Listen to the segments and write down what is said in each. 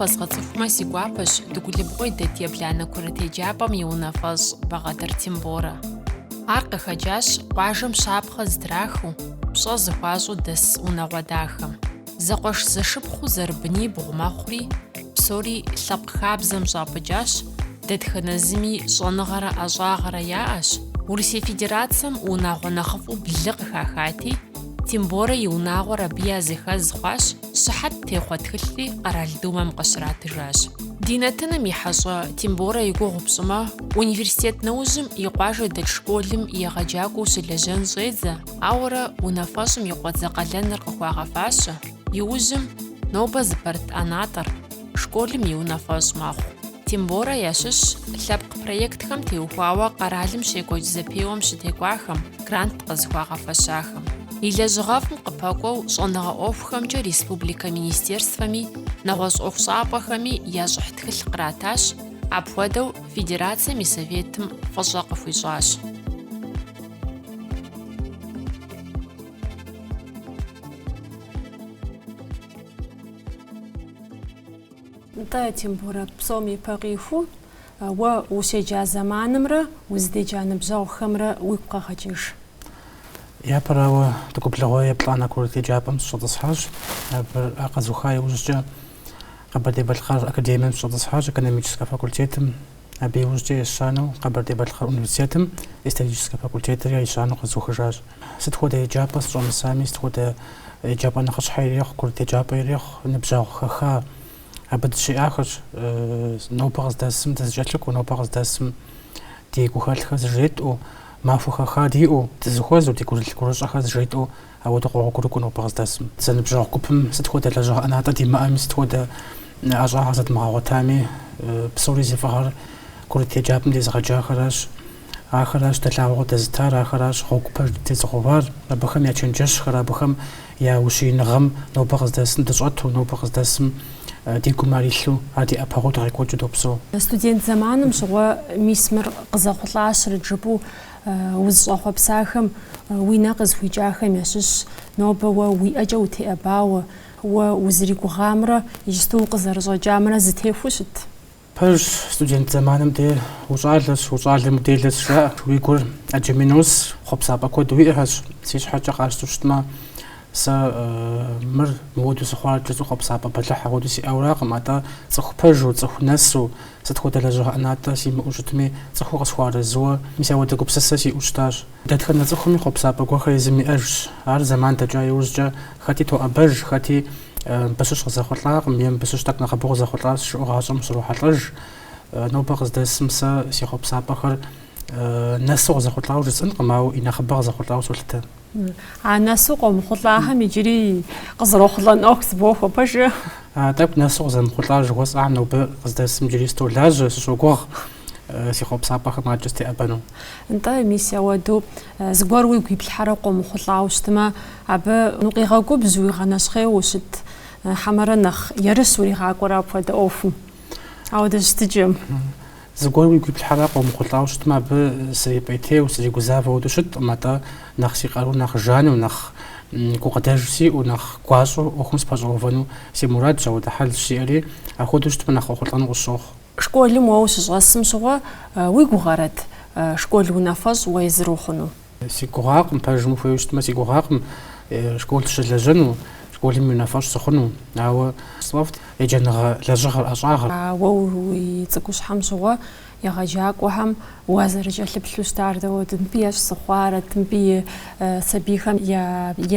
Фэзгъэцӏыхумэ, си гуапэщ Дыгулыбгъуей дэт ебланэ курыт еджапӏэм и унафэщӏ Багъэтыр Темборэ. Ар къыхэкӏащ къуажэм щапхъэ зытрахыу, пщӏэ зыхуащӏу дэс унагъуэ дахэм. Зэкъуэш-зэшыпхъуу зэрыбынибгъу мэхъури, псори лъэпкъ хабзэм щӏапӏыкӏащ, Дэтхэнэ зыми щӏэныгъэрэ ӏэщӏагъэрэ яӏэщ, Урысей Федерацэм унагъуэ нэхъыфӏу блы къыхахати, Темборэ и унагъуэр абы языхэз хъуащ, щыхьэт техъуэ тхылъри Къэрал Думэм къыщратыжащ. Ди нэтыным и хьэщӏэ Темборэ и гугъу пщӏымэ, университет нэужьым и къуажэ дэт школым егъэджакӏуэу щылэжьэн щӏедзэ, ауэрэ унафэщӏым и къуэдзэ къалэныр къыхуагъэфащэ, иужьым, нобэ зыпэрыт ӏэнатӏэр, школым и унафэщӏ мэхъу. Темборэ ящыщщ лъэпкъ проектхэм теухуауэ къэралым щекӏуэкӏ зэпеуэм щытекӏуахэм, грант къызыхуагъэфэщахэм. И лэжьыгъэфӏым къыпэкӏуэу щӏэныгъэ ӏуэхухэмкӏэ республикэ министерствэми, нэгъуэщӏ ӏуэхущӏапӏэхэми я щӏыхь тхылъ къратащ, апхуэдэу Федерацэм и Советым фӏыщӏэ къыхуищӏащ. Нтӏэ, Темборэ, псом ипэ къихуэу уэ ущеджа зэманымрэ узыдеджа ныбжьэгъухэмрэ уигу къэгъэкӏыж. Япэрауэ, Дыгулыбгъуей еплӏанэ курыт еджапӏэм сыщӏэтӏысхьащ. Абы къэзуха иужькӏэ Къэбэрдей-Балъкъэр академием сыщӏэтӏысхьащ, экономическэ факультетым. Абы иужькӏэ ещанэу Къэбэрдей-Балъкъэр университетым историческэ факультетыри ещанэу къэзухыжащ. Сыт хуэдэ еджапӏэ сыщӏэмысами, сыт хуэдэ еджапӏэ нэхъыщхьэ ирехъу, курыт еджапӏэ ирехъу, ныбжьэгъу хэха, абы дыщиӏахэщ. Нобэ къыздэсым дызэкӏэлъыкӏуэу, нобэ къыздэсым ди гухэлъхэр зыжетӏэу, махуэ хэха диӏэу, дызыхуэзэу, ди гурылъ-гурыщӏэхэр зыжетӏэу Ауэ дыкъогъуэгурыкӏуэ нобэ къыздэсым. Зэныбжьэгъу гупым сыт хуэдэ лэжьыгъэ ӏэнатӏэ димыӏэми, сыт хуэдэ ӏэщӏагъэ зэдмыгъэгъуэтами, псори зи фӏыгъэр курыт еджапӏэм дезыгъэджахэращ. Ахэращ дэ лъагъуэ къыдэзытар, ахэращ гъуэгу пэж дытезыгъэувар. Абыхэм я чэнджэщхэр, абыхэм я ущииныгъэм нобэ къыздэсым дыщӏэту, нобэ къыздэсым ди гум ар илъу, ар ди ӏэпэгъуу дыкъекӏуэкӏыу допсэу. Студент зэманым щыгъуэ мис мыр къызэхъулӏащэрэт жыпӏэу Узыщӏэхъуэпсахэм уи нэ къызыхуикӏахэм ящыщ нобэ уэ уи ӏэкӏэ утеӏэбауэ, уэ узригугъамрэ иджысту укъызэрыщӏэкӏамрэ зытехуэу щыт. Пэжщ, студент зэманым де ущӏалэщ, ущӏалэм уделэщ жаӏэ. Уи гур ӏэджэми нос, хъуэпсапӏэ куэд уиӏэхэщ. Си щхьэкӏэ къащту щытмэ, сэ мыр мыуэду сыхъуар кӏэщӏу хъуэпсапӏэ бэлыхь ахуэду сиӏэуракъым, атӏэ цӏыху пэжу, цӏыху нэсу, Сыт хуэдэ лэжьыгъэ ӏэнатӏэ симыӏэу щытми, цӏыхуу къысхуэарэзыуэ, мис ауэдэ гупсысэ сиӏэу щытащ. Дэтхэнэ цӏыхуми хъуэпсапӏэ гуэхэр езым иӏэжщ. Ар зэман дэкӏа иужькӏэ хэти тоӏэбэж, хэти мыбы щыщ къызэхъулӏакъым е мыбы щыщ тӏэкӏу нэхъыбэу къызэхъулӏащ жыӏэу гъащӏэм щрохьэлӏэж. Нобэ къыздэсым сэ си хъуэпсапӏэхэр нэсу къызэхъулӏауэ жысӏэнкъым, ауэ и нэхъыбэ къызэхъулӏауэ солъытэ. А нэсу къомыхъулӏахэм иджыри къызэрохъулӏэн ӏуэху зыбохуэ пэжу. А тӏэкӏу нэсу къызэмыхъулӏар жыхуэсӏам нобэ къыздэсым иджыри столажьэ, сыщогугъ э, си хъуэпсапӏэхэм аджэ стеӏэбэну. Нтӏэ, мис ауэду э, зыгуэр уигу иплъхьэрэ къомыхъулӏауэ щытмэ, абы укъигъэгубжь, уигъэнэщхъейуэ щыт э, хьэмэрэ нэхъ ерыщ уригъакӏуэрэ апхуэдэ ӏуэхум. Ауэдэ щытыкӏэм. Зыгуэр уигу иплъхьэрэ къомыхъулӏауэ щытмэ, абы срипӏейтейуэ, сригузавэу ауэду щытӏым, атӏэ нэхъ си къару нэхъ жану, нэхъ гукъыдэж сиӏэу, нэхъ гуащӏэу ӏуэхум сыпэщӏэувэну си мурадщ, ауэдэ хьэлщ сиӏэри, апхуэдэу щытмэ нэхъ къохъулӏэну къысщохъу. Школым уэ ущыщӏэсым щыгъуэ уи гугъэрэт школ унафэщӏ уэ езыр ухъуну? Си гугъакъым, пэжым ухуейуэ щытмэ, си гугъакъым школ сыщылэжьэну, школым унафэщӏ сыхъуну, ауэ сфӏэфӏт еджэныгъэ лэжьыгъэр ӏэщӏагъэр. Уэ уи цӏыкӏущхьэм щыгъуэ егъэджакӏуэхэм уазэрыкӏэлъыплъу щытар дауэт? Мыбы ещхь сыхъуарэт? Мыбы и сабийхэм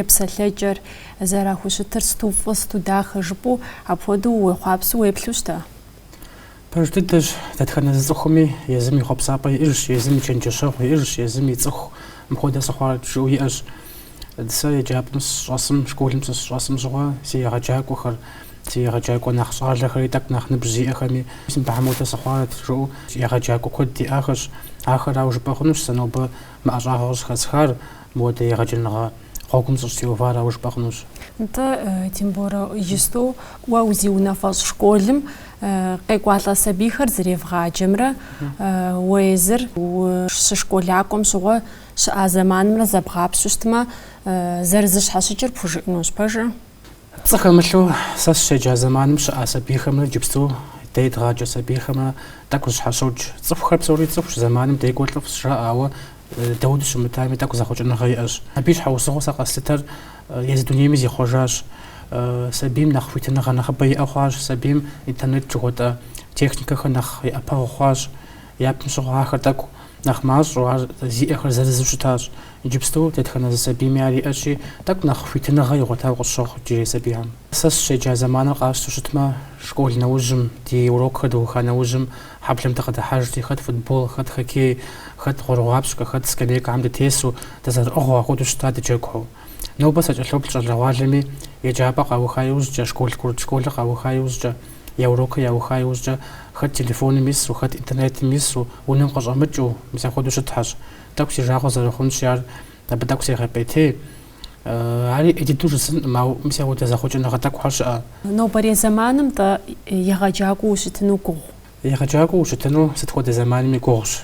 епсэлъэкӏэр зэрахущытыр сыту фӏы, сыту дахэ жыпӏэу, апхуэдэу уехъуапсэу уеплъу щыта? Пэж дыдэщ, дэтхэнэ зы цӏыхуми езым и хъуэпсапӏэ иӏэжщ, езым и чэнджэщэгъу иӏэжщ, езым и цӏыху мыпхуэдэ сыхъуарэт жыӏэу иӏэщ. Сэ еджапӏэм сыщӏэсым, школым сыщӏэсым щыгъуэ си егъэджакӏуэхэр, си егъэджакӏуэ нэхъ щӏалэхэри тӏэкӏу нэхъ ныбжь зиӏэхэми сэ мыбыхэм хуэдэ сыхъуарэт жыӏэу егъэджакӏуэ куэд диӏахэщ. Ахэрауэ жыпӏэ хъунущ сэ нобэ мы ӏэщӏагъэу къыщӏыхэсхар, Мыуэдэ егъэджэныгъэ гъуэгум сыщӏытеувар ауэ жыпӏэ хъунущ. Нтӏэ, тем более иджысту уэ узиунафэщӏ школым къекӏуалӏэ сабийхэр зэревгъаджэмрэ уэ езыр ущышколакӏуэм щыгъуэ щыӏа зэманымрэ зэбгъапщу щытмэ, зэрызыщхьэщыкӏыр пхужыӏэнущ, пэжу? Пцӏы хэмылъу сэ сыщеджа зэманым щыӏа сабийхэмрэ иджыпсту дэ едгъаджэ сабийхэмрэ тӏэкӏу зыщхьэщокӏ. Цӏыхухэр псори цӏыхущ, зэманым декӏур лӏыфӏщ жаӏэ, ауэ дауэду щымытами, тӏэкӏу зэхъуэкӏыныгъэ иӏэщ. Абы и щхьэусыгъуэу сэ къэслъытэр езы дунейми зихъуэжащ. Сабийм нэхъ хуитыныгъэ нэхъыбэ иӏэ хъуащ, сабийм интернет жыхуэтӏэ техникэхэр нэхъ и ӏэпэгъу хъуащ. Япэм щыгъуэ ахэр тӏэкӏу нэхъ мащӏэу, ар зиӏэхэр зырызу щытащ. Иджыпсту дэтхэнэ зы сабийми ар иӏэщи, тӏэкӏу нэхъ хуитыныгъэ игъуэтауэ къысщохъу иджырей сабийхэм. Сэ сыщеджа зэманыр къащтэу щытмэ, школ нэужьым, ди урокхэр дыуха нэужьым, хьэблэм дыкъыдыхьэжти, хэт футбол, хэт хоккей, хэт гъуэрыгъуапщкӏэ, хэт скамейкэхьэм дытесу, дызэрыӏыгъыу ахуэдэу щыта дыджэгухэу. Нобэ сакӏэлъоплъ щӏалэгъуалэми еджапӏэ къауха иужькӏэ, школ курыт школыр къауха иужькӏэ, я урокыр яуха иужькӏэ хэт телефоным ису, хэт интернетым ису, унэм къыщӏэмыкӏыу, мис апхуэдэу щытхьэщ. Тӏэкӏу си жагъуэ зэрыхъунщи, ар абы тӏэкӏу сегъэпӏейтей. Ар ӏей дыдэу жысӏэнкъым, ауэ мис апхуэдэ зэхъуэкӏыныгъэ тӏэкӏухэр щыӏэ. Нобэрей зэманым-тӏэ егъэджакӏуэу ущытыну гугъу? Егъэджакӏуэу ущытыну сыт хуэдэ зэманми гугъущ.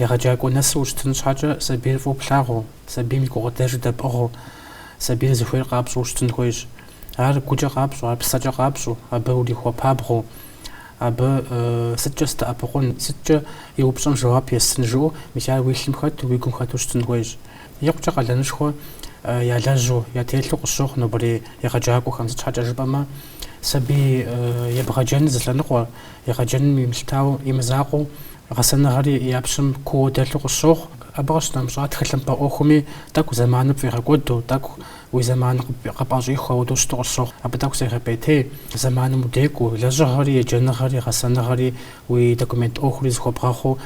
Егъэджакӏуэ нэсу ущытын щхьэкӏэ сабийр фӏыуэ плъагъуу, сабийм и гукъыдэжыр дэпӏыгъыу, сабийр зыхуейр къапщӏэу ущытын хуейщ. Ар гукӏэ къапщӏу, ар псэкӏэ къапщӏу, абы урихуэпабгъэу, абы сыткӏэ сыдэӏэпыкъун, сыткӏэ и упщӏэм жэуап естын жыӏэу, мис ар уи лъым хэту, уи гум хэту щытын хуейщ. Икъукӏэ къалэнышхуэ ялэжьу, ятелъу къысщохъу нобэрей егъэджакӏуэхэм, сыт щхьэкӏэ жыпӏэмэ, Сабий ебгъэджэныр зы лъэныкъуэ, егъэджэным имылъытауэ, имызакъуэу, гъэсэныгъэри я пщым кууэ дэлъу къысщохъу. Абы къыщынэмыщӏа тхылъымпӏэ ӏуэхуми тӏэкӏу зэманыр пфӏигъэкӏуэду, тӏэкӏу уи зэманыр къыпӏэщӏихыу апхуэдэу щыту къысщохъу. Абы тӏэкӏу сегъэпӏейтей, зэманым удекӏуу, лэжьыгъэри, еджэныгъэри, гъэсэныгъэри, уи документ ӏуэхури зыхуэбгъэхъуу,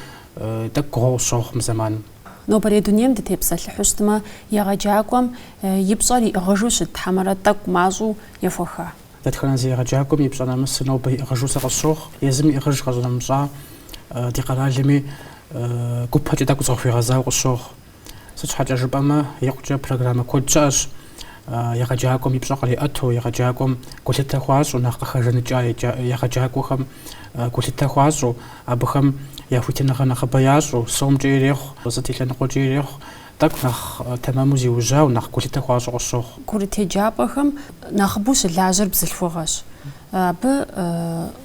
тӏэкӏу гугъуэу къысщохъу мы зэманым. Нобэрей дунейм дытепсэлъыхьу щытмэ, егъэджакӏуэм и пщӏэр иӏыгъыжу щыт хьэмэрэ тӏэкӏу мащӏэу ехуэха? Дэтхэнэ зы егъэджакӏуэм и пщӏэ нэмысыр нобэ иӏыгъыжу сэ къысщохъу, езым иӏыгъыж къэщӏынэмыщӏа ди къэралми гупэкӏэ тӏэкӏу зыкъыхуигъэзауэ къысщохъу. Сыт щхьэкӏэ жыпӏэмэ, икъукӏэ программэ куэд щыӏэщ егъэджакӏуэм и пщӏэр къриӏэту, егъэджакӏуэм гулъытэ хуащӏу, нэхъ къыхэжыныкӏа егъэджакӏуэхэм гулъытэ хуащӏу. Абыхэм я хуитыныгъэр нэхъыбэ ящӏу, сомкӏэ ирехъу, сыт и лъэныкъуэкӏи ирехъу, тӏэкӏу нэхъ тэмэму зиужьауэ, нэхъ гулъытэ хуащӏу къысщохъу. Курыт еджапӏэхэм нэхъыбэу щылажьэр бзылъхугъэщ. Абы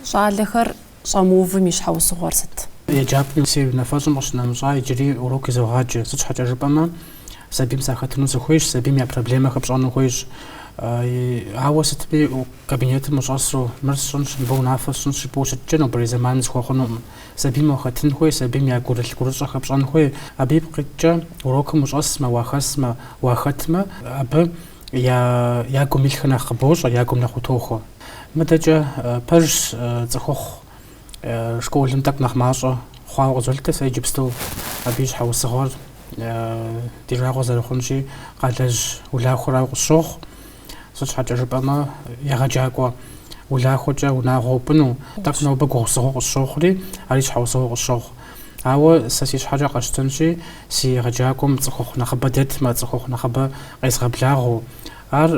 щӏалэхэр щӏэмыувым и щхьэусыгъуэр сыт? Еджапӏэм си унафэщӏым къыщынэмыщӏа иджыри урок изогъаджэ. Сыт щхьэкӏэ жыпӏэмэ, сабийм сахэтыну сыхуейщ, сабийм я проблемэхэр пщӏэну хуейщ. Ауэ сытми, Кабинетым ущӏэсу, мыр сщӏынщ, мыбы унафэ сщӏынщ жыпӏэу ущытыкӏэ, нобэрей зэманым зыхуэхъунукъым. Сабийм уахэтын хуей, сабийм я гурылъ гурыщӏэхэр пщӏэн хуей. Абы ипкъ иткӏэ, урокым ущӏэсмэ, уахэсмэ, уахэтмэ, абы я гум илъхэр нэхъ къыбощӏэ, я гум нэхъ утохуэ. Мыдэкӏэ пэжщ, цӏыхухъу школым тӏэкӏу нэхъ мащӏэ хъуауэ къызолъытэ, сэ иджыпсту абы и щхьэусыгъуэр ди жагъуэ зэрыхъунщи, къалэжь улахуэрауэ къысщохъу. Сыт щхьэкӏэ жыпӏэмэ, егъэджакӏуэ улахуэкӏэ унагъуэ упӏыну тӏэкӏу нобэ гугъусыгъуэу къысщохъури, ари щхьэусыгъуэу къысщохъу. Ауэ сэ си щхьэкӏэ къэсщтэнщи, си егъэджакӏуэм цӏыхухъу нэхъыбэ дэтмэ, цӏыхухъу нэхъыбэ къезгъэблагъэу, ар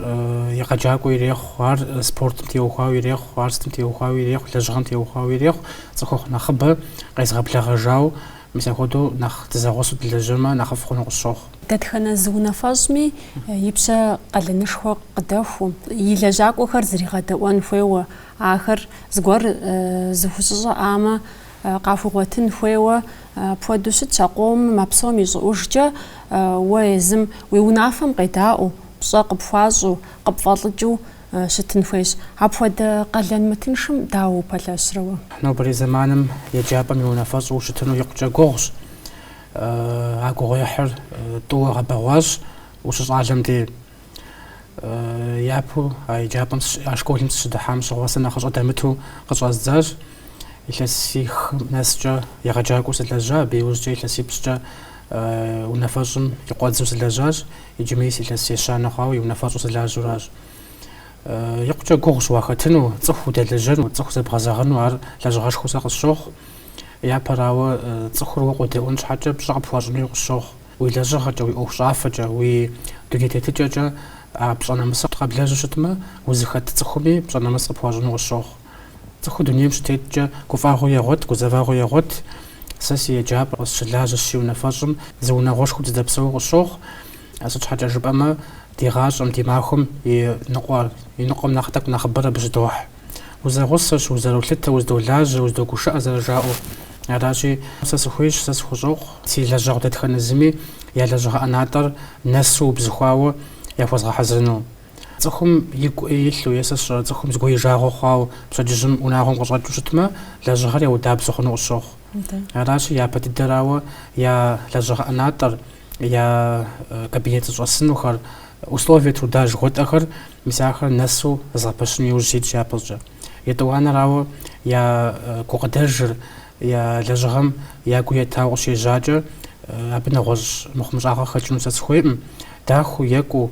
егъэджакӏуэ ирехъу, ар спортым теухуауэ ирехъу, ар сытым теухуауэ ирехъу, лэжьыгъэм теухуауэ ирехъу, цӏыхухъу нэхъыбэ къезгъэблэгъэжауэ, мис апхуэдэу нэхъ дызэгъусэу дылажьэмэ, нэхъыфӏ хъуну къысщохъу. Дэтхэнэ зы унафэщӏми и пщэ къалэнышхуэ къыдэхуу, и лэжьакӏуэхэр зригъэдэӏуэн хуейуэ, ахэр зыгуэр зыхущыщӏэӏамэ, къахуигъуэтын хуейуэ, апхуэдэу щытщ а къомым, а псом и щӏыӏужкӏэ, уэ езым уи унафэм къедаӏуэу, пщӏэ къыпхуащӏу, къыпфӏэлӏыкӏыу щытын хуейщ. Апхуэдэ къалэн мытыншым дауэ упэлъэщрэ уэ? Нобэрей зэманым еджапӏэм и унафэщӏу ущытыну икъукӏэ гугъущ. А гугъуехьыр тӏууэ гъэбэгъуащ ущыщӏалэм де. Япэу а еджапӏэм, а школым сыщыдыхьам щыгъуэ сэ нэхъыщӏэ дэмыту къыщӏэздзащ. Илъэсих нэскӏэ егъэджакӏуэу сылэжьа, абы иужькӏэ илъэсипщӏкӏэ унафэщӏым и къуэдзу сылэжьащ, иджы мис илъэс ещанэ хъуауэ и унафэщӏу сылажьэуращ. Икъукӏэ гугъущ уахэтыну, цӏыху удэлэжьэну, цӏыху зэбгъэзэгъыну, ар лэжьыгъэшхуэу сэ къысщохъу. Япэрауэ, цӏыхур уэ къодэӏуэн щхьэкӏэ пщӏэ къыпхуащӏын хуей къысщохъу. Уи лэжьыгъэкӏэ, уи ӏуэхущӏафэкӏэ, уи дуней тетыкӏэкӏэ а пщӏэ нэмысыр къэблэжьу щытмэ, узыхэт цӏыхуми пщӏэ нэмыс къыпхуащӏыну къысщохъу. Цӏыхур дунейм щытеткӏэ гуфӏэгъуи егъуэт, гузэвэгъуи егъуэт. Сэ си еджапӏэр къысщылажьэщ си унафэщӏым, зы унагъуэшхуэу дыздэпсэууэ къысщохъу. Сыт щхьэкӏэ жыпӏэмэ, ди гъащӏэм, ди махуэм и ныкъуэ, и ныкъуэм нэхъ тӏэкӏу нэхъыбэр абы щыдохь. узэгъусэщ, узэролъытэ, уздолажьэ, уздогушыӏэ зэрыжаӏэу. Аращи, сэ сыхуейщ, сэ сыхущӏокъу, си лэжьэгъу дэтхэнэ зыми я лэжьыгъэ ӏэнатӏэр нэсу убзыхуауэ яхуэзгъэхьэзырыну. Цӏыхум игу ӏей илъу е сэ сщӏэрэ цӏыхум зыгуэр и жагъуэ хъуауэ пщэдджыжьым унагъуэм къыщӏэкӏыу щытмэ, лэжьыгъэри ауэдэбзэу хъуну къысщохъу. Аращи, япэ дыдэрауэ я лэжьыгъэ ӏэнатӏэр, я кабинет зыщӏэсынухэр, условия труда жыхуэтӏэхэр, мис ахэр нэсу згъэпэщын иужь ситщ япэщӏкӏэ. Етӏуанэрауэ, я гукъыдэжыр, я лэжьыгъэм я гу етауэ къыщежьакӏэ, абы нэгъуэщӏ мыхъумыщӏагъэ хэкӏыну сэ сыхуейӏым, дахэу, екӏуу,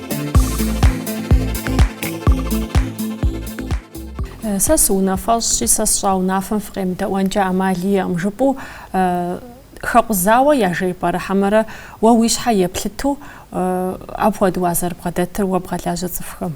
Сэ сыунафэщӏщи, сэ сщӏа унафэм фыкъемыдэӏуэнкӏэ ӏэмал иӏэкъым, жыпӏэу хэкъузауэ яжепӏэрэ, хьэмэрэ уэ уи щхьэ еплъыту апхуэдэу уазэрыбгъэдэтыр уэ бгъэлажьэ цӏыхухэм.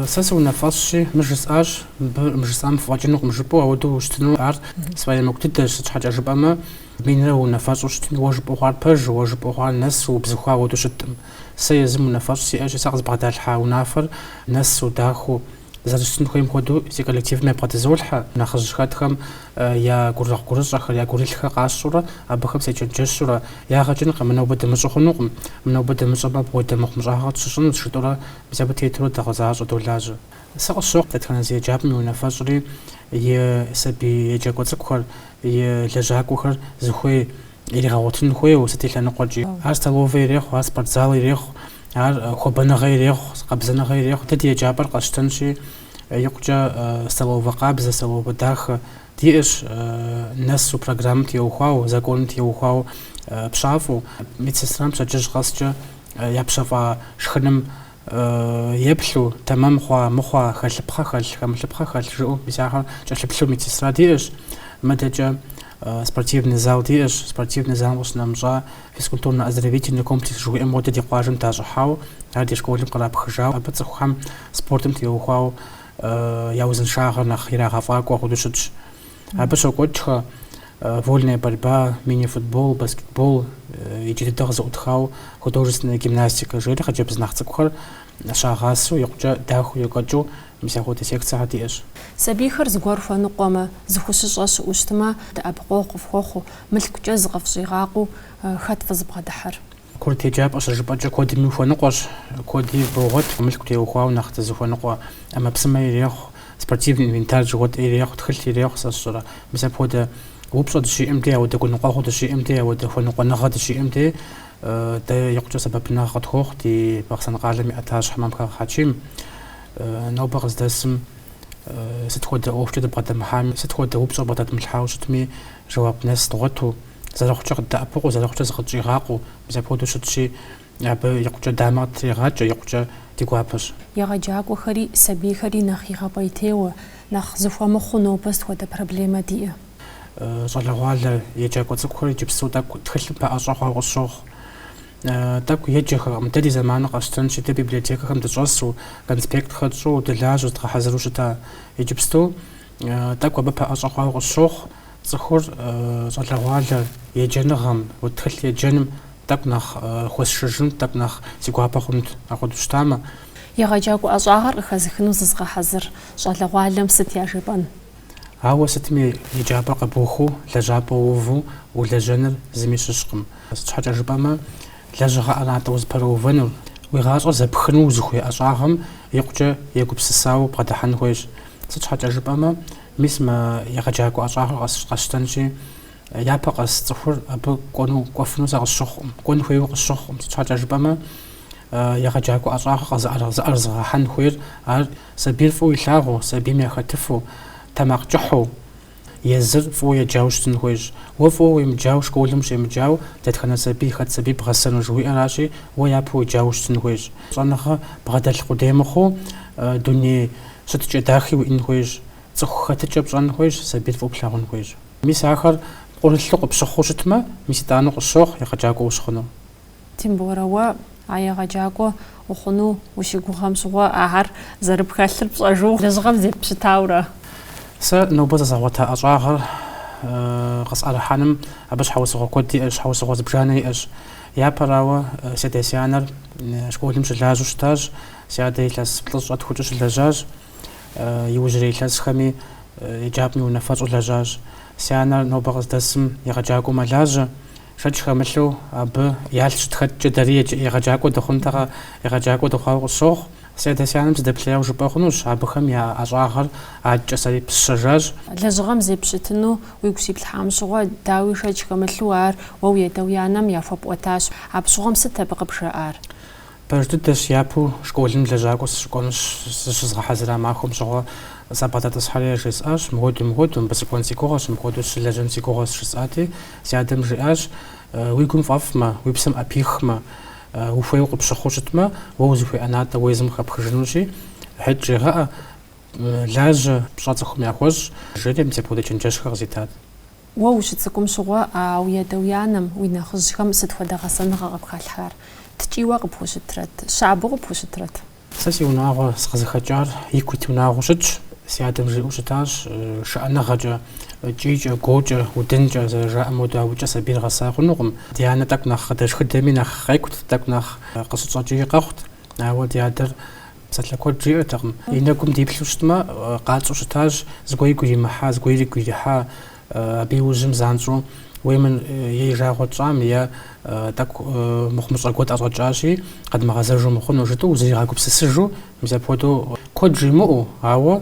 Сэ сыунафэщӏщи, мы жысӏащ, мыбы мы жысӏам фыфӏэкӏынукъым жыпӏэу, ауэдэу ущытыну ар сфӏэемыкӏу дыдэщ, сыт щхьэкӏэ жыпӏэмэ, минрэ уунафэщӏу щытми, уэ жыпӏэу хъуар пэж, уэ жыпӏэу хъуар нэсу убзыхуа ауэдэу щытӏым. Сэ езым унафэщӏ сиӏэщи, сэ къызбгъэдалъхьа унафэр нэсу дахэу, зэрыщытын хуейм хуэдэу си коллективым ябгъэдызолъхьэ, нэхъыжь хэтхэм, я гурыгъ гурыщӏэхэр, я гурылъхэр къащӏурэ, абыхэм сечэнджэщурэ, ягъэ кӏынкъым, мы нобэ дымыщӏу хъунукъым, мы нобэ дымыщӏэмэ апхуэдэ мыхъумыщӏагъэ къытщыщӏынущ, жытӏэурэ мис абы тетурэ догъэзащӏэ долажьэ. Сэ къысщохъу дэтхэнэ зы еджапӏэм и унафэщӏри, и сабий еджакӏуэ цӏыкӏухэр, и лэжьакӏуэхэр зыхуей иригъэгъуэтын хуейуэ, сыт и лъэныкъуэкӏи. Ар столовэ ирехъу, ар спортзал ирехъу, ар хуабэныгъэ ирехъу, къабзэныгъэ ирехъу. Дэ ди еджапӏэр къэсщтэнщи, Икъукӏэ столовэ къабзэ, столовэ дахэ диӏэщ нэсу программэм теухуауэ, законым теухуауэ пщафӏэу, медсестрэм пщэдджыжь къэскӏэ я пщэфӏа шхыным еплъу, тэмэм хъуа, мыхъуа, хэлъыпхъэ хэлъ, хэмылъыпхъэ хэлъ жыӏэу мис ахэм кӏэлъыплъу медсестра диӏэщ. Мыдэкӏэ спортивный зал диӏэщ, спортивный залым къыщынэмыщӏа физкультурно-оздоровительный комплекс жыхуиӏэм хуэдэ ди къуажэм дащӏыхьауэ, ар ди школым кърапхыжауэ, абы цӏыхухэм спортым теухуауэ я узыншагъэр нэхъ ирагъэфӏакӏуэ хъуну щытщ. Абы щокӏуэкӏхэ вольная борьба, мини-футбол, баскетбол, иджы дыдэ къызэӏутхауэ художественная гимнастика, жери хъыджэбз нэхъ цӏыкӏухэр Щагъасэу икъукӏэ дахэу екӏуэкӏыу мис апхуэдэ секцэхэр диӏэщ. Сабийхэр зыгуэр хуэныкъуэмэ, зыхущыщӏэ щыӏэу щытмэ, дэӏэпыкъуэгъу къыфхуэхъуу, мылъкукӏэ зыкъыфщӏигъакъуу, хэт фызыбгъэдыхьэр? Курыт еджапӏэ щыжыпӏэкӏэ куэдми ухуэныкъуэщ, куэди богъуэт, мылъку теухуауэ нэхъ дызыхуэныкъуэ ӏэмэпсымэ ирехъу, спортивный инвентарь жыхуэтӏэр ирехъу, тхылъ ирехъу, сэ сщӏэрэ. Мис апхуэдэ упщӏэ дыщиӏэм де, апхуэдэ гуныкъуэгъуэ дыщиӏэм де, апхуэдэ хуэныкъуэныгъэ дыщиӏэм де, Дэ икъукӏэ сэбэпынагъ къытхуохъу ди Бахъсэн къалэм и ӏэтащхьэ Мамхэгъ Хьэчим. Нобэ къыздэсым сыт хуэдэ ӏуэхукӏэ дыбгъэдэмыхьами, сыт хуэдэ упщӏэ бгъэдэдмылъхьауэ щытми, жэуап нэс дгъуэту, зэрыхъукӏэ къыддэӏэпыкъуу, зэрыхъукӏэ зыкъытщӏигъакъуу, мис апхуэдэу щытщи, абы икъукӏэ дамэ къыттрегъакӏэ, икъукӏэ ди гуапэщ. Егъэджакӏуэхэри, сабийхэри нэхъ игъэпӏейтейуэ, нэхъ зыхуэмыхъуу нобэ сыт хуэдэ проблемэ диӏэ? щӏалэгъуалэ еджакӏуэ цӏыкӏухэр иджыпсту тӏэкӏу тхылъым пэӏэщӏэ хъуауэ къысщохъу. Тӏэкӏу еджэхэкъым. Дэ ди зэманыр къэсщтэнщи, дэ библиотекэхэм дыщӏэсу, конспектхэр тщӏу, дылажьэу зыдгъэхьэзыру щыта. Иджыпсту тӏэкӏу абы пэӏэщӏэ хъуауэ къысщохъу цӏыхур щӏалэгъуалэ еджэныгъэм, тхылъ еджэным тӏэкӏу нэхъ хуэсшыжынут, тӏэкӏу нэхъ си гуапэ хъунт, апхуэдэу щытамэ. Егъэджакӏуэ ӏэщӏагъэр къыхэзыхыну зызыгъэхьэзыр щӏалэгъуалэм сыт яжепӏэн? Ауэ сытми еджапӏэр къэбухыу, лэжьапӏэ уву улэжьэныр зыми щыщкъым. Сыт щхьэкӏэ жыпӏэмэ, лэжьыгъэ ӏэнатӏэ узыпэрыувэнур, уи гъащӏэр зэпхыну узыхуей ӏэщӏагъэм икъукӏэ егупсысауэ бгъэдыхьэн хуейщ. Сыт щхьэкӏэ жыпӏэмэ, мис мы егъэджакӏуэ ӏэщӏагъэр къэсщтэнщи, япэ къэс цӏыхур абы кӏуэну, кӏуэфыну сэ къысщыхъукъым, кӏуэн хуейуэ къысщыхъукъым. Сыт щхьэкӏэ жыпӏэмэ, егъэджакӏуэ ӏэщӏагъэр къызыӏэрызыгъэхьэн хуейр ар Сабийр фӏыуэ илъагъуу, сабийм яхэтыфу, тэмакъ кӏыхьу, езыр фӏыуэ еджауэ щытын хуейщ. Уэ фӏыуэ уемыджауэ, школым ущемыджауэ, дэтхэнэ сабий, хэт сабий бгъэсэну жыхуиӏэращи, уэ япэу уеджауэ щытын хуейщ. Щӏэныгъэ бгъэдэлъ къудей мыхъуу, дуней щытыкӏэ дахи уиӏэн хуейщ. Цӏыху хэтыкӏэ пщӏэн хуейщ, сабийр фӏыуэ плъагъун хуейщ. Мис ахэр пкъырылъу къыпщыхъуу щытмэ, мис итӏанэу къысщохъу егъэджакӏуэ ущыхъуну. Тимборэ, уэ а егъэджакӏуэ ухъуну ущыгугъэм щыгъуэ ахэр зэрыпхэлъыр пщӏэжу лэжьыгъэм зеппщытауэрэ? Сэ нобэ зэзгъэгъуэта ӏэщӏагъэр къысӏэрыхьэным абы щхьэусыгъуэ куэд иӏэщ, щхьэусыгъуэ зыбжанэ иӏэщ. Япэрауэ, си адэ-си анэр школым щылажьэу щытащ, си адэ илъэс плӏыщӏэ тхукӏэ щылэжьащ, иужьрей илъэсхэми еджапӏэм и унафэщӏу лэжьащ. Си анэр нобэ къыздэсым егъэджакӏуэу мэлажьэ. Шэч хэмылъу абы ялъ щытхэткӏэ дэри егъэджакӏуэ дыхъунтэкъэ, егъэджакӏуэ дыхъуауэ къысщохъу. Си адэ-си анэм сыдэплъеяуэ жыпӏэ хъунущ, абыхэм я ӏэщӏагъэр адэкӏэ сэри пысщэжащ. Лэжьыгъэм зеппщытыну уигу щиплъхьам щыгъуэ, дауи шэч хэмылъу ар уэ уи адэ-уи анэм яхуэпӏуэтащ. Апщыгъуэм сыт абы къыбжаӏар? Пэж дыдэщ япэу школым лэжьакӏуэ сыщыкӏуэну зыщызгъэхьэзыра махуэм щыгъуэ сабгъэдэтӏысхьэри яжесӏащ, мыхуэдэу, мыхуэдэу, мыбы сыкӏуэн си гугъэщ, мыпхуэдэу сыщылэжьэн си гугъэщ жысӏати, си адэм жиӏащ, Уи гум фӏэфӏмэ, уи псэм ӏэпихмэ, ухуейуэ къыпщыхъуу щытмэ, уэ узыхуей ӏэнатӏэ уэ езым къыхэпхыжынущи, хьэт жегъэӏэ, лажьэ, пщӏэ цӏыхум яхуэщӏ, жери мис апхуэдэ чэнджэщхэр къызитат. Уэ ущыцӏыкӏум щыгъуэ а уи адэ-уи анэм, уи нэхъыжьхэм сыт хуэдэ гъэсэныгъэ къыпхалъхьар? Ткӏийуэ къыпхущытрэт? Щабэу къыпхущытрэт? Сэ си унагъуэ сыкъызыхэкӏар ику ит унагъуэу щытщ. Си адэм жиӏэу щытащ, шыӏэныгъэкӏэ, кӏийкӏэ, гуокӏэ, удынкӏэ зэрыжаӏэм хуэдэу абыкӏэ сабийр гъэса хъунукъым. Ди анэ тӏэкӏу нэхъ къыдэшхыдэми нэхъ къекӏут, тӏэкӏу нэхъ къыщытщӏэкӏии къэхъут. Ауэ ди адэр. Псалъэ куэд жиӏэртэкъым. И нэгум диплъу щытмэ, къэтщӏэу щытащ, зыгуэр игу иримыхьа, зыгуэр игу ирихьа, абы и ужьым занщӏэу уеймэ е и жагъуэ тщӏам, е тӏэкӏу мыхъумыщӏэ гуэр тӏэщӏэкӏащи, къэдмыгъэзэжу мыхъуну жытӏэу, узригъэгупсысыжу, мис апхуэдэу куэд жимыӏэу, ауэ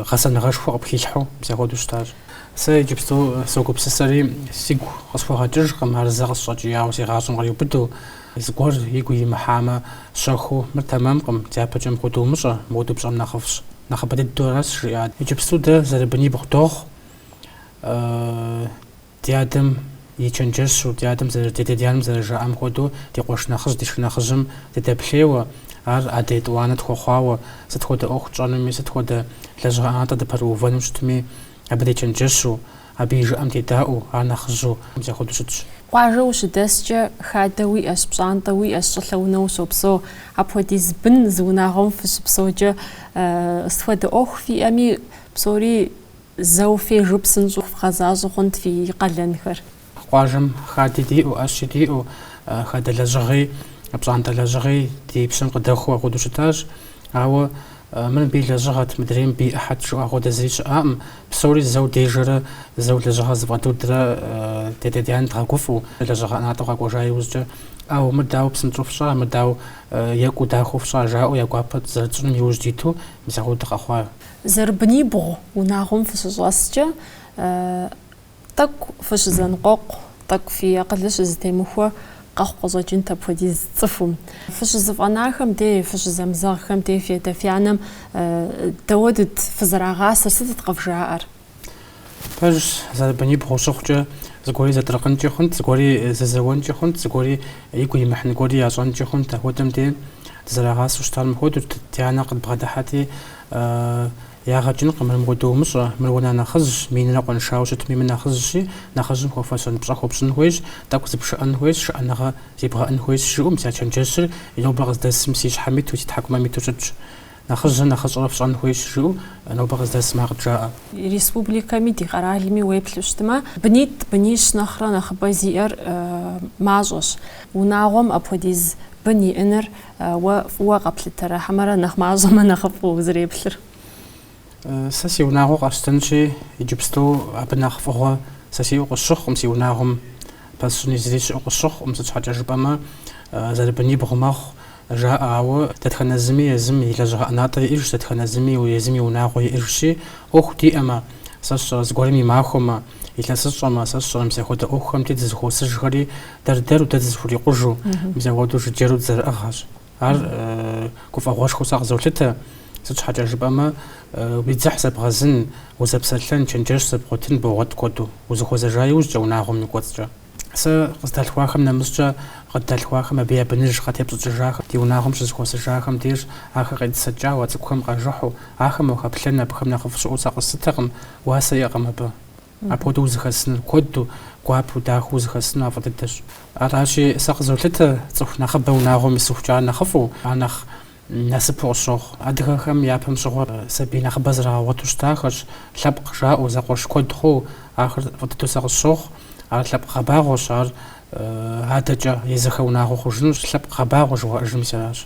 гъэсэныгъэшхуэ къыпхилъхьэу, мис апхуэдэу щытащ. Сэ иджыпсту согупсысэри, сигу къысхуэгъэкӏыжкъым, ар зэ къысщӏэкӏияуэ си гъащӏэм къриубыдэу. Зыгуэр игу имыхьамэ, щэхуу, мыр тэмэмкъым, дяпэкӏэ мыхуэдэу умыщӏэ, мыхуэдэу пщӏэм нэхъыфӏщ, нэхъыбэ дыдэу аращ, жиӏат. Иджыпсту дэ зэрыбынибгъу дохъу, ди адэм и чэнджэщу, ди адэм зэры, ди адэ-ди анэм зэрыжаӏэм хуэдэу, ди къуэш нэхъыжь, ди шынэхъыжьым дыдэплъейуэ, ар адэ етӏуанэ тхуэхъуауэ, сыт хуэдэ ӏуэху тщӏэнуми, сыт хуэдэ лэжьыгъэ ӏэнатӏэ дыпэрыувэну щытми, абы дечэнджэщу, Абы и жыӏэм дедаӏуэу, ар нэхъыжьу, мис ахуэдэу щытщ. Къуажэ ущыдэскӏэ, хадэ уиӏэщ, пщӏантӏэ уиӏэщ, щӏылъэ унэ ущопсэу, апхуэдиз бын зы унагъуэм фыщыпсэукӏэ, сыт хуэдэ ӏуэху фиӏэми, псори зэу фежу псынщӏэу вгъэзащӏэ хъунт фи къалэнхэр. Къуажэм хади диӏэу, ӏэщи диӏэу, хадэ лэжьыгъи, пщӏантӏэ лэжьыгъи ди пщэм къыдэхуэу ахуэдэу щытащ. Ауэ Мыр мыбы и лэжьыгъэт, мыдрей мыбы и ӏыхьэт жыӏэу ахуэдэ зыри щыӏакъым. Псори зэу дежэрэ, зэу лэжьыгъэр зэфӏэдудрэ дядэ-дянэ дгъэгуфӏу, лэжьыгъэ ӏэнатӏэу къэкӏуэжа иужькӏэ, ӏэу, мыр дауэ псынщӏэу фщӏа, мыр дауэ екӏуу дахэу фщӏа, жаӏэу я гуапэ зэрытщӏыным иужь диту мис ахуэдэу дыкъэхъуа. Зэрыбынибгъу унагъуэм фыщыщӏэскӏэ, Тӏэкӏу фыщызэныкъуэкъу, тӏэкӏу фи акъылыр щызэтемыхуэ къэхъу къыщӏэкӏынт апхуэдиз цӏыхум. Фыщызэфӏэнахэм дей, фыщызэмызэгъхэм дей фядэ-фянэм дауэдыт фызэрагъасэр, сытыт къывжаӏэр? Пэжщ, зэрыбынибгъу щыхъукӏэ, зыгуэри зэтыркъынкӏи хъунт, зыгуэри зэзэуэнкӏи хъунт, зыгуэри игу имыхьын гуэри ящӏэнкӏи хъунт, апхуэдэм дей дызэрагъасэу щытар мыхуэдэущ, ди анэ къыдбгъэдыхьэти, Ягъэкӏынкъым, мыр мыхуэдэу умыщӏэ, мыр уэ нэхъ нэхъыжьщ, минрэ къуэншауэ щытми, мыр нэхъыжьщи, нэхъыжьым хуэфэщэн пщӏэ хуэпщӏын хуейщ, тӏэкӏу зыпшыӏэн хуейщ, шыӏэныгъэ зебгъэӏэн хуейщ, жыӏэу, мис а чэнджэщыр и нобэ къыздэсым си щхьэм иту, си тхьэкӏумэм иту щытщ. Нэхъыжьрэ нэхъыщӏэрэ фщӏэн хуейщ, жыӏэу, нобэ къыздэсым ар къыджаӏэ. Республикэми ди къэралми уеплъу щытмэ, бынитӏ, бынищ нэхърэ нэхъыбэ зиӏэр мащӏэщ. Унагъуэм апхуэдиз бын иӏэныр Уэ фӏыуэ къэплъытэрэ, хьэмэрэ нэхъ мащӏэмэ нэхъыфӏу узэреплъыр? Сэ си унагъуэ къэсщтэнщи, иджыпсту абы нэхъ фӏыгъуэ сэ сиӏэу къысщыхъукъым си унагъуэм. Пэсщӏыни зыри щыӏэу къысщыхъукъым, сыт щхьэкӏэ жыпӏэмэ, зэрыбынибгъу мэхъу, жаӏэ, ауэ дэтхэнэ зыми езым и лэжьыгъэ ӏэнатӏэ иӏыжщ, дэтхэнэ зыми езым и унагъуэ иӏыжщи, ӏуэху диӏэмэ, сэ сщӏэрэ, зыгуэрым и махуэмэ, илъэсыщӏэмэ, сэ сщӏэрэ мис апхуэдэ ӏуэхухэм дей дызэхуосыжхэри Дэр-дэру дэ дызэхурикъужу, мис ахуэдэу жыджэру дызэрыӏыгъхэщ. Ар гуфӏэгъуэшхуэу сэ къызолъытэ, сыт щхьэкӏэ жыпӏэмэ, уи дзыхь зэбгъэзын, узэпсэлъэн, чэнджэщ зэбгъуэтын богъуэт куэду, узыхуэзэжа иужькӏэ унагъуэм и кӏуэцӏкӏэ. Сэ къыздалъхуахэм нэмыщӏкӏэ, къыддалъхуахэм абы я быныж къатепщӏыкӏыжахэм, ди унагъуэм щызэхуэсыжахэм деж, ахэр къетӏысэкӏауэ, а цӏыкӏухэм къажыхьу, ахэм уахэплъэн абыхэм нэхъыфӏ щыӏэу сэ къэслъытэкъым, уасэ иӏэкъым абы. Апхуэдэу узэхэсыныр куэду, гуапэу, дахэу узэхэсыну ар фӏы дыдэщ. Аращи, сэ къызолъытэ цӏыху нэхъыбэ унагъуэм исыхукӏэ ар нэхъыфӏу, ар нэхъ насыпу къысщохъу. Адыгэхэм япэм щыгъуэр сабий нэхъыбэ зэрагъэгъуэту щытахэщ, лъэпкъ жаӏэу, зэкъуэш куэд хъууэ. Ахэр фӏы дыдэу сэ къысщохъу. Ар лъэпкъ гъэбагъуэщ, ар адэкӏэ езыхэ унагъуэ хъужынущ. Лъэпкъ гъэбагъуэ жыхуаӏэжыр мис аращ.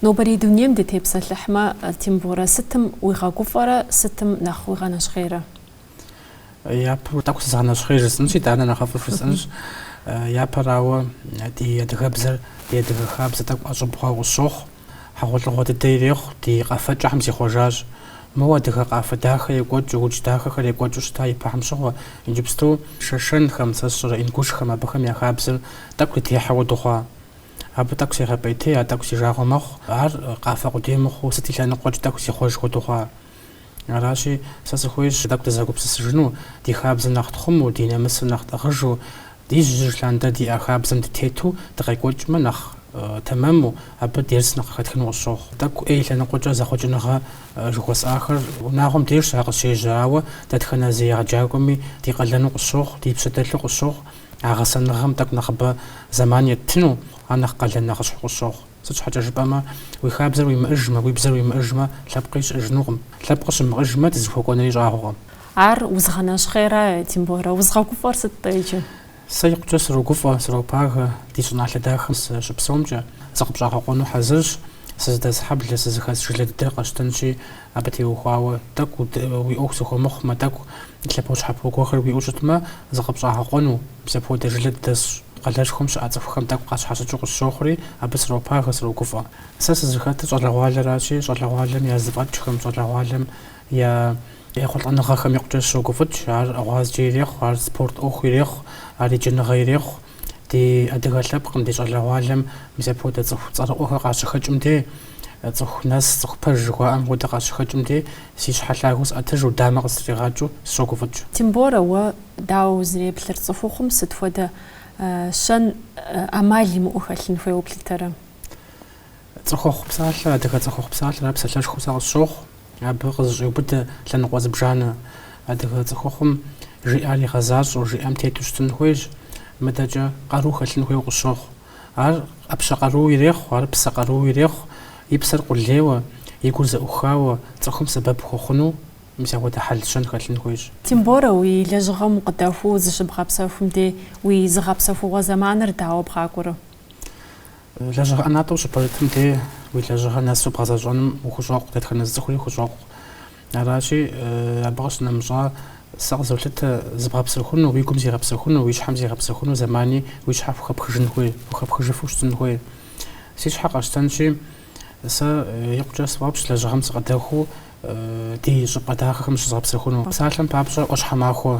Нобэрей дунейм дытепсэлъыхьмэ, Тимборэ, сытым уигъэгуфӏэрэ сытым нэхъ уигъэнэщхъейрэ? Япэу тӏэкӏу сызгъэнэщхъей жысӏэнщ, итӏанэ нэхъыфӏу жысӏэнщ. Япэрауэ ди адыгэбзэр, ди адыгэ хабзэр тӏэкӏу ӏэщӏыб хъуауэ къысщохъу, хьэгъуэлӏыгъуэ дыдэ ирехъу ди къэфэкӏэхэм зихъуэжащ. Моуэ адыгэ къафэ дахэ екӏуэкӏыу, удж дахэхэр екӏуэкӏыу щыта ипэхэм щыгъуэ. Иджыпсту шэшэнхэм, сэ сщӏэрэ ингушхэм абыхэм я хабзэр тӏэкӏу дытехьэуэ дыхъуа? Абы тӏэкӏу сегъэпӏейтей, ар тӏэкӏу си жагъуэ мэхъу. Ар къафэ къудей мыхъуу, сыт и лъэныкъуэкӏи тӏэкӏу зихъуэж хуэдэу хъуа? Аращи, сэ сыхуейщ тӏэкӏу дызэгупсысыжыну, ди хабзэр нэхъ тхъуму, ди нэмысыр нэхъ тӏыгъыжу, ди жьы жьыжь лъандэрэ диӏа хабзэм дытету дыкъекӏуэкӏмэ нэхъ тэмэму, абы дерс нэхъ къыхэтхыну къысщохъу. Тӏэкӏу ӏей лъэныкъуэкӏэ зэхъуэкӏыныгъэ жыхуэсӏахэр унагъуэм дежщ ар къыщежьэ, ауэ дэтхэнэ зы егъэджакӏуэми ди къалэну къысщохъу, ди пщэ дэлъу къысщохъу, а гъэсэныгъэм тӏэкӏу нэхъыбэ зэман еттыну, ар нэхъ къалэн нэхъыщхьэу къысщохъу. Сыт щхьэкӏэ жыпӏэмэ, уи хабзэр уимыӏыжмэ, уи бзэр уимыӏыжмэ, лъэпкъи щыӏыжынукъым. Лъэпкъ щымыӏыжмэ, дызыхуэкӏуэнри щӏагъуэкъым. Ар узыгъэнэщхъейра, Тимборэ, узыгъэгуфӏэр сыт-тӏэ иджы? Сэ икъукӏэ срогуфӏэ, сропагэ ди щӏыналъэ дахэм сыщыпсэумкӏэ. Зыкъыпщӏагъэкъуэну хьэзырщ. Сызыдэс хьэблэ, сызыхэс жылэ дыдэр къэсщтэнщи, Абы теухуауэ тӏэкӏу уи ӏуэху зыхуэмыхъумэ, тӏэкӏу лъэпощхьэпо гуэрхэр уиӏэу щытмэ, зыкъыпщӏагъэкъуэну мис апхуэдэ жылэ дыдэсщ. Къалэшхуэм щыӏэ цӏыхухэм тӏэкӏу къащхьэщыкӏыу къысщохъури, абы сропагэ, срогуфӏэ. Сэ сызыхэтыр щӏалэгъуалэращи, щӏалэгъуалэм я зэфӏэкӏхэм, щӏалэгъуалэм я ехъулӏэныгъэхэм икъукӏэ сщогуфӏыкӏ. Ар гъуазджэ ирехъу, ар спорт ӏуэху ирехъу, ар еджэныгъэ ирехъу. Ди адыгэ лъэпкъым, ди щӏалэгъуалэм мис апхуэдэ цӏыху цӏэрыӏуэхэр къащыхэкӏым де, цӏыху нэс, цӏыху пэж жыхуаӏэм хуэдэ къащыхэкӏым де, си щхьэ лъагэу сӏэтыжу, дамэ къыстригъакӏыу сыщогуфӏыкӏ. Тимборэ, уэ дауэ узреплъыр, цӏыхухъум сыт хуэдэ щэн ӏэмал имыӏэу хэлъын хуейуэ плъытэрэ? Цӏыхухъу псалъэ, адыгэ цӏыхухъу псалъэр ар псалъэшхуэу сэ къысщохъу. Абы къызыщӏеубыдэ лъэныкъуэ зыбжанэ. Адыгэ цӏыхухъум жиӏар игъэзащӏэу, жиӏэм тету щытын хуейщ. Мыдэкӏэ къару хэлъын хуейуэ къысщохъу. Ар ӏэпщэ къарууэ ирехъу, ар псэ къарууэ ирехъу, и псэр къулейуэ, и гур зэӏухауэ, цӏыхум сэбэп хуэхъуну, мис апхуэдэ хьэл-щэн хэлъын хуейщ. Тимборэ, уи лэжьыгъэм укъыдэхуу зыщыбгъэпсэхум дей уи зыгъэпсэхугъуэ зэманыр дауэ бгъакӏуэрэ? Лэжьыгъэ ӏэнатӏэ ущыпэрытым де уи лэжьыгъэр нэсу бгъэзэщӏэным ухущӏокъу, дэтхэнэ зы цӏыхури хущӏокъу. Аращи, абы къыщынэмыщӏа, сэ къызолъытэ зыбгъэпсэхуну, уи гум зигъэпсэхуну, уи щхьэм зигъэпсэхуну зэмани уи щхьэ хухэпхыжын хуей, хухэпхыжыфу щытын хуей. Си щхьэ къэсщтэнщи, сэ икъукӏэ сфӏэфӏщ лэжьыгъэм сыкъыдэхуу, ди щӏыпӏэ дахэхэм зыщызгъэпсэхуну. Псалъэм папщӏэ, ӏуащхьэмахуэ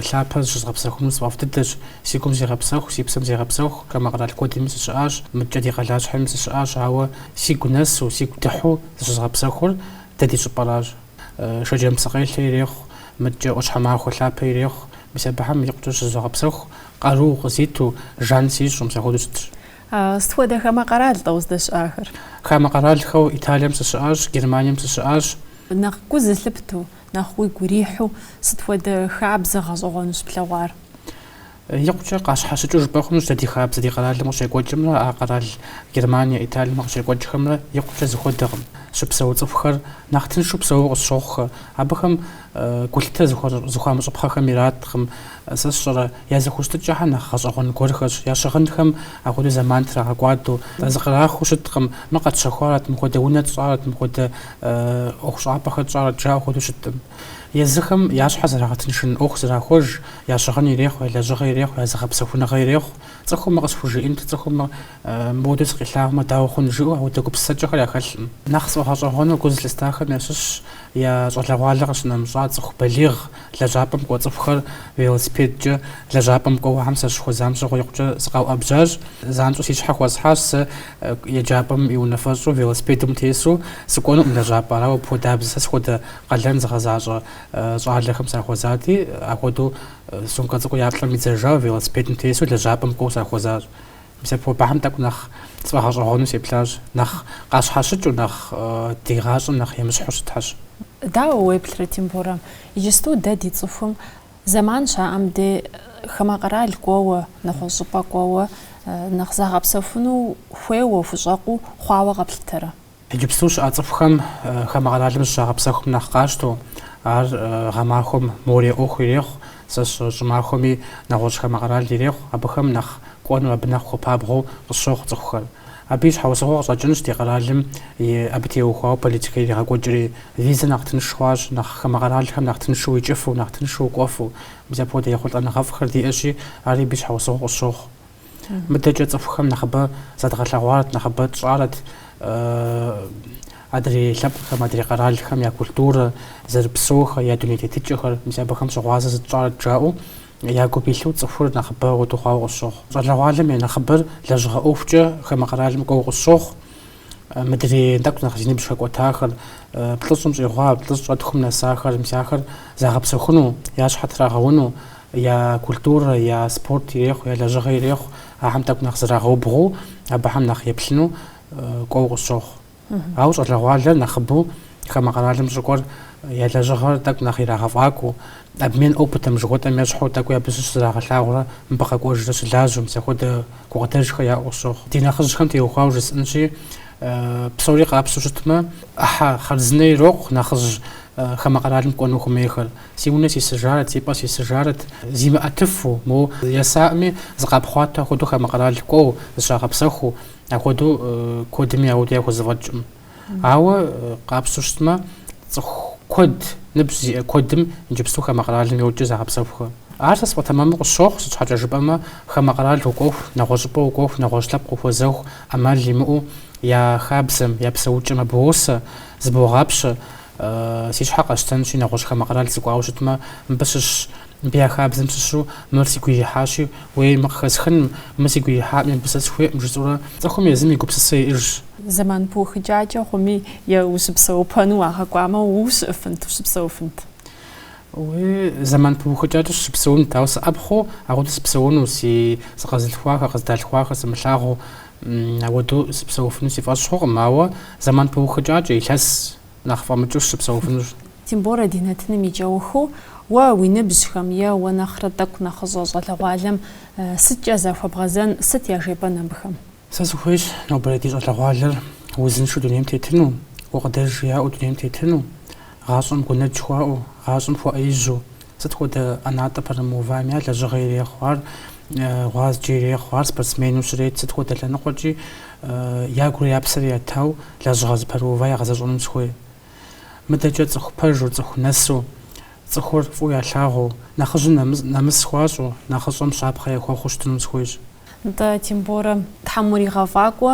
лъапэ зыщызгъэпсэхуну сфӏэфӏ дыдэщ. Си гум зегъэпсэху, си псэм зегъэпсэху, хамэ къэрал куэдми сыщыӏащ, мыдкӏэ ди къалащхьэми сыщыӏащ, ауэ сигу нэсу, сигу дыхьу зыщызгъэпсэхур дэ ди щӏыпӏэращ. Шэджэм псыкъелъэ ирехъу, мыдкӏэ ӏуащхьэмахуэ лъапэ ирехъу, мис абыхэм икъукӏэ щызогъэпсэху, къару къызиту, жан сищӏу, мис апхуэдэу щытщ. Сыт хуэдэ хамэ къэрал-тӏэ уздэщыӏахэр? Хамэ къэралхэу Италием сыщыӏащ, Германием сыщыӏащ. Нэхъ гу зылъыпту, нэхъ уигу ирихьу сыт хуэдэ хабзэ гъэщӏэгъуэну щыплъэгъуар? Икъукӏэ къащхьэщыкӏыу жыпӏэ хъунущ дэ ди хабзэ ди къэралым къыщекӏуэкӏымрэ а къэрал Германие, Италием къыщекӏуэкӏхэмрэ икъукӏэ зыхуэдэкъым. Щыпсэу цӏыхухэр нэхъ тыншу псэууэ къысщохъухэ. Абыхэм. Гулъытэ зыхуамыщӏыпхъэхэм ираткъым, сэ сщӏэрэ, я зэхущытыкӏэхэр нэхъ гъэщӏэгъуэн гуэрхэщ, я щыгъынхэм апхуэдэу зэман трагъэкӏуадэу, зыкърахыу щыткъым, мыр къэтщэхуарэт, мыпхуэдэ унэ тщӏарэт, мыпхуэдэ ӏуэхущӏапӏэхэр тщӏарэт жаӏэу хуэдэу щыткъым. Езыхэм я щхьэр зэрагъэтыншын ӏуэху зэрахуэж, я щыгъын ирехъу, я лэжьыгъэ ирехъу, я зыгъэпсэхуныгъэ ирехъу. Цӏыхум мыр къысхужиӏэнт, цӏыхум мыр мыпхуэдэу сыкъилъагъумэ, дауэ хъун, жаӏэу апхуэдэ гупсысэкӏэхэр яхэлъкъым. Нэхъ сфӏэгъэщӏэгъуэну гу зылъыстахэм ящыщщ. Я щӏалэгъуалэ къыщынэмыщӏа цӏыху балигъ лэжьапӏэм кӏуэ цӏыхухэр велосипедкӏэ лэжьапӏэм кӏуэуэхэм сащыхуэзам щыгъуэ икъукӏэ сыкъэуӏэбжьащ. Занщӏэу си щхьэ хуэсхьащ сэ еджапӏэм и унафэщӏу велосипедым тесу сыкӏуэнукъым лэжьапӏэ. Арауэ апхуэдабзэ сэ схуэдэ къалэн зыгъэзащӏэ щӏалэхэм сахуэзати, апхуэдэу сумкэ цӏыкӏур я плӏэм идзэжауэ велосипедым тесу лэжьапӏэм кӏуэу сахуэзащ. Мис апхуэдэу абыхэм тӏэкӏу нэхъ сфӏэгъэщӏэгъуэну сеплъащ, нэхъ къащхьэщыкӏыу, нэхъ ди гъащӏэм нэхъ емыщхьу щытхэщ. Дауэ уеплърэ, Тимборэ? Иджысту дэ ди цӏыхум зэман щаӏэм де хамэ къэрал кӏуэуэ, нэгъуэщӏ щӏыпӏэ кӏуэуэ, нэхъ загъэпсэхуну хуейуэ, хущӏэкъуу хъуауэ къэплъытэрэ? Иджыпсту щыӏэ цӏыхухэм хамэ къэралым зыщагъэпсэхум нэхъ къащтэу, ар гъэмахуэм море ӏуэху ирехъу, сэ щӏымахуэми нэгъуэщӏ хамэ къэрал ирехъу, абыхэм нэхъ кӏуэну, абы нэхъ хуэпабгъэу къысщохъу цӏыхухэр. Абы и щхьэусыгъуэ къыщӏэкӏынщ ди къэралым абы теухуауэ политикэ иригъэкӏуэкӏри. Визэ нэхъ тынш хъуащ, нэхъ хамэ къэралхэм нэхъ тыншу уикӏыфу, нэхъ тыншу укӏуэфу. Мис апхуэдэ ехъулӏэныгъэфӏхэр диӏэщи, ари абы и щхьэусыгъуэ къысщохъу. Мыдэкӏэ цӏыхухэм нэхъыбэ задгъэлъэгъуарэт, нэхъыбэ тщӏарэт адрей лъэпкъхэм, адрей къэралхэм я культурэ, зэрыпсэухэр, я дуней тетыкӏэхэр, мис абыхэм щыгъуазэ зытщӏарэт жаӏэу я гум илъу цӏыхур нэхъыбэ куэду хъуауэ къысщохъу. Щӏалэгъуалэм я нэхъыбэр лэжьыгъэ ӏуэхукӏэ хамэ къэралым кӏуэуэ къысщохъу. Мыдрей тӏэкӏу нэхъ зи ныбжь хэкӏуэтахэр, плӏыщӏым щӏигъуа, плӏыщӏрэ тхум нэсахэр, мис ахэр загъэпсэхуну, я щхьэ трагъэуну, я культурэ, я спорт ирехъу, я лэжьыгъэ ирехъу, ахэм тӏэкӏу нэхъ зэрагъэубгъуу, абыхэм нэхъ еплъыну кӏуэуэ къысщохъу. Ауэ щӏалэгъуалэр нэхъыбэу хамэ къэралым щӏыкӏуэр я лэжьыгъэр тӏэкӏу нэхъ ирагъэфӏакӏуэу, Обмен опытым жыхуэтӏэм ещхьу тӏэкӏуи абы щыщ зрагъэлъагъурэ мыбы къэкӏуэжрэ щылажьэу мис апхуэдэ гукъыдэжхэр яӏэу щохъу. Ди нэхъыжьхэм теухуауэ жысӏэнщи, псори къапщтэу щытмэ, ӏыхьэ хъарзынэ ирокъу нэхъыжь хамэ къэралым кӏуэну хуэмейхэр. Си унэ сисыжарэт, си пӏэ сисыжарэт, зимыӏэтыфу, моу есакъыми зыкъапхъуатэ апхуэдэу хамэ къэрал кӏуэу, зыщагъэпсэхуу, апхуэдэу куэдми ауэду яхузэфӏэкӏкъым. Ауэ къапщтэу щытмэ, цӏыху куэд, ныбжь зиӏэ куэдым иджыпсту хамэ къэралым йокӏэ загъэпсэхухэ. Ар сэ сфӏэтэмэму къысщохъу, сыт щхьэкӏэ жыпӏэмэ, хамэ къэрал укӏуэху, нэгъуэщӏыпӏэ укӏуэху, нэгъуэщӏ лъэпкъ ухуэзэху, ӏэмал имыӏэу я хабзэм, я псэукӏэм абы уосэ, зыбогъапщэ, Си щхьэ къэсщтэнщи, нэгъуэщӏ хамэ къэрал сыкӏуауэ щытмэ, мыбы щыщ, мыбы я хабзэм щыщу мыр сигу ирихьащи, уей, мыр къыхэсхынщ, мыр сигу ирихьакъыми, мыбы сэ сыхуейкъым жысӏэурэ, цӏыхум езым и гупсысэ иӏэжщ. Зэман пыухыкӏакӏэ хъуми, е ущыпсэупэну уагъэкӏуамэ, ущыӏэфынт, ущыпсэуфынт? Уей, зэман пыухыкӏакӏэ сыщыпсэунт, ауэ сыӏэпхъуэу, ауэду сыпсэуну, си сыкъэзылъхуахэр, къыздалъхуахэр сымылъагъуу. Ауэду сыпсэуфыну си фӏэщ хъукъым, ауэ зэман пыухыкӏакӏэ, илъэс нэхъ фӏэмыкӏыу сыпсэуфынущ. Тимборэ ди нэтыным и кӏэухыу, уэ уи ныбжьхэм е уэ нэхърэ тӏэкӏу нэхъыщӏэ щӏалэгъуалэм сыткӏэ захуэбгъэзэн, сыт яжепӏэн абыхэм? Сэ сыхуейщ нобэрей ди щӏалэгъуалэр узыншэу дунейм тетыну, гукъыдэж яӏэу дунейм тетыну. Гъащӏэм гунэдж хуаӏэу, гъащӏэм хуэӏэижьу, сыт хуэдэ ӏэнатӏэ пэрымыувами, ар лэжьыгъэ ирехъу, ар гъуазджэ ирехъу, ар спортсмену щрет, сыт хуэдэ лъэныкъуэкӏи ягури я псэри ятауэ лэжьыгъэ зыпэрыува ягъэзэщӏэным сыхуей. Мыдэкӏэ цӏыху пэжу, цӏыху нэсу, цӏыхур фӏыуэ ялъагъуу, нэхъыжьым нэмыс хуащӏу, нэхъыщӏэм щапхъэ яхуэхъуу щытынум сыхуейщ. Нтӏэ, Тимборэ, Тхьэм уригъэфӏакӏуэ,